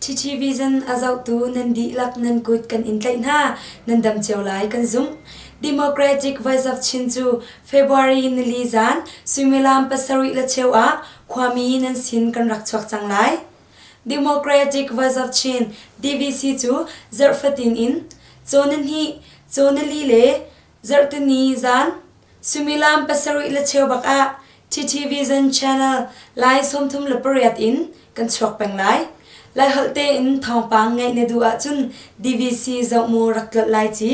Chichi Vision a zohtu nan dihlak nan kut kan in tlaih hna nan dam cio lai kan zumh. Democratic Voice of Chin cu February nili zan suimilam pasarih le cheu ah Khuami nan sin kan rak chuak cang lai. Democratic Vazarchin DVC cu zarh fatin in Cawnihni, Cawnili le Zarhtini zan suimilam pasarih le cheu bak ah TTV Zan Channel Lai sawmthum le pariat in kan chuak peng lai. Lai holh tein thawngpang ngeih na duh ahcun DVC zoh mu rak tlolh lai ci.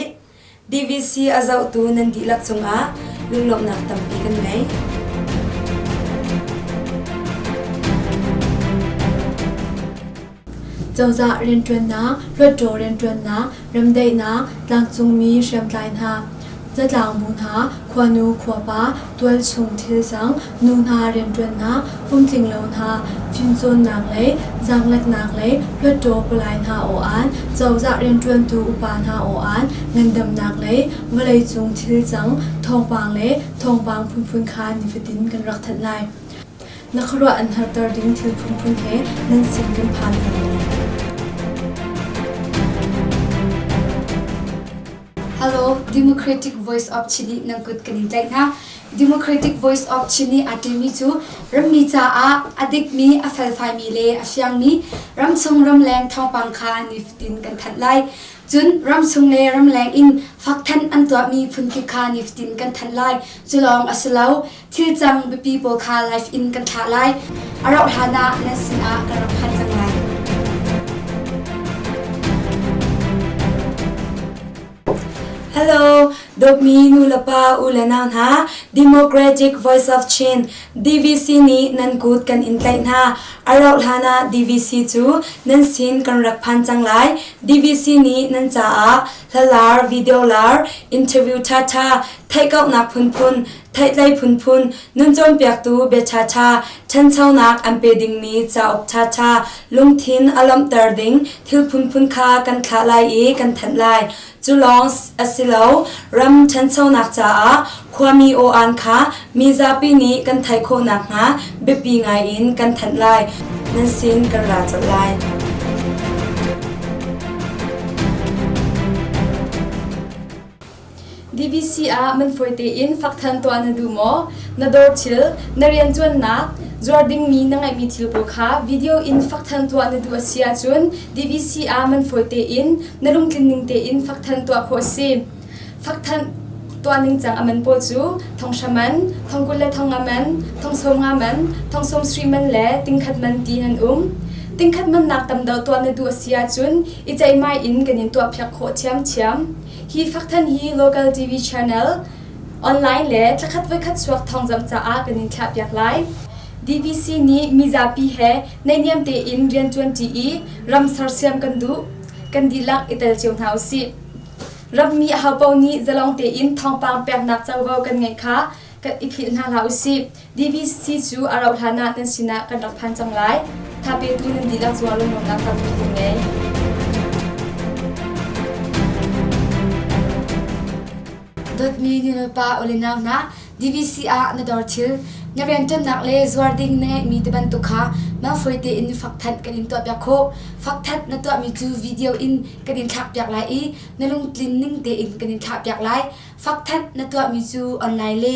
DVC a zohtu nan dihlak cungah lunglawmhnak tampi kan ngei. Cozah rianṭuannak, hluttaw rianṭuannak, remdaihnak, tlangcungmi hriamtlai hna, zatlang bu hna, khuanu khuapa, tualchung thilcang, nu hna rianṭuannak, pumtling lo hna, fimcawnnak le zaangleknak le hluattaw palai hna aw-an, cozah rianṭuantu upa hna aw-an, ngandamnak le vawleicung thilcang, thawngpang le thawngpang phunphun kha nifatin kan rak thanh lai. Na khuaruah an harter ding thil phunphun he nan sin kan phan hna lai. Hello, Democratic Voice of Chile nang kut kan in tlaih hna. Democratic Voice of Chin nih aa ṭimi cu rammi caah a dikmi, a felfaimi le a fiangmi ramchung ramleng thawngpang kha nifatin kan thanh lai. Cun ramchung le ramleng in faktthanh an tuahmi phunkip kha nifatin kan thanh lai. Culawng a si lo, thil cang biapi pawl kha live in kan thlah lai. A rauh hlanah nan sinah kan rak phan cang lai. Hello, dawtmi nu le pa u le nau hna, Democratic Voice of Chin DVC nih nan kut kan in tlaih hna. A rauh hlan ah DVC cu nan sin kan rak phan cang lai. DVC nih nan caah hlalar, video lar, interview thatha, theihkauhnak phunphun Theihtlei phunphun nun cawnpiaktu biaṭhaṭha ṭhanchonak an pe dingmi cauk ṭhaṭha lungthin a lawmhter ding thil phunphun kha kan thlah lai i kan thanh lai. Cu lawng a si lo, ram ṭhanchonak caah khuami aw-an kha mi zapi nih kan theih khawh nakhnga biapi ngaiin kan thanh lai. Nan sin kan ra colh lai. DVC ah man fawi tein fak than tuah na duh maw? Na dawr thil, na riantuannak, zuar dingmi na ngeihmi thil pawl kha video in fak than tuah na duh a si ahcun DVC ah man fawi tein, na lungtlin ning tein fak than tuah khawh a si. Fak than tuah ningcang a man pawl cu thonghra man, thongkul le thonga man, thongsawm nga man, thongsawm sri man le tingkhat man ti nan um. Tingkhat mannak tam deuh tuah na duh a si ahcun i ceihmai in kan in tuah phiak khawh thiamthiam. Hi fakthan hi local TV channel online le tlakhat voikhat suak thawngzamh caah kan in thlahpiak lai. DVC nih mizapi he naihniam tein rian ṭuanṭi i ram sersiam kan duh. Kan dihlak i tel cio hna usih. Rammi ahopaoh nih zalong tein thawngpang peknak covo kan ngeih kha kan i philh hna hlah usih. DVC cu a rauh hlan ah kan sinah kan rak phan cang lai. Thapetu nan dihlak cuah lungnuamnak tampi kan ngei. Dotmi nilpa olinau na DVC ah na dor thil na rianṭannak le zuar ding na ngeihmi te bantuk kha malfoy tein fak thanh kan in tuah piak khawh. Fak that na tuahmi cu video in kan in thlak piak lai i na lungtlin ning tein kan in thlah piak lai. Fak thanh na tuahmi cu online le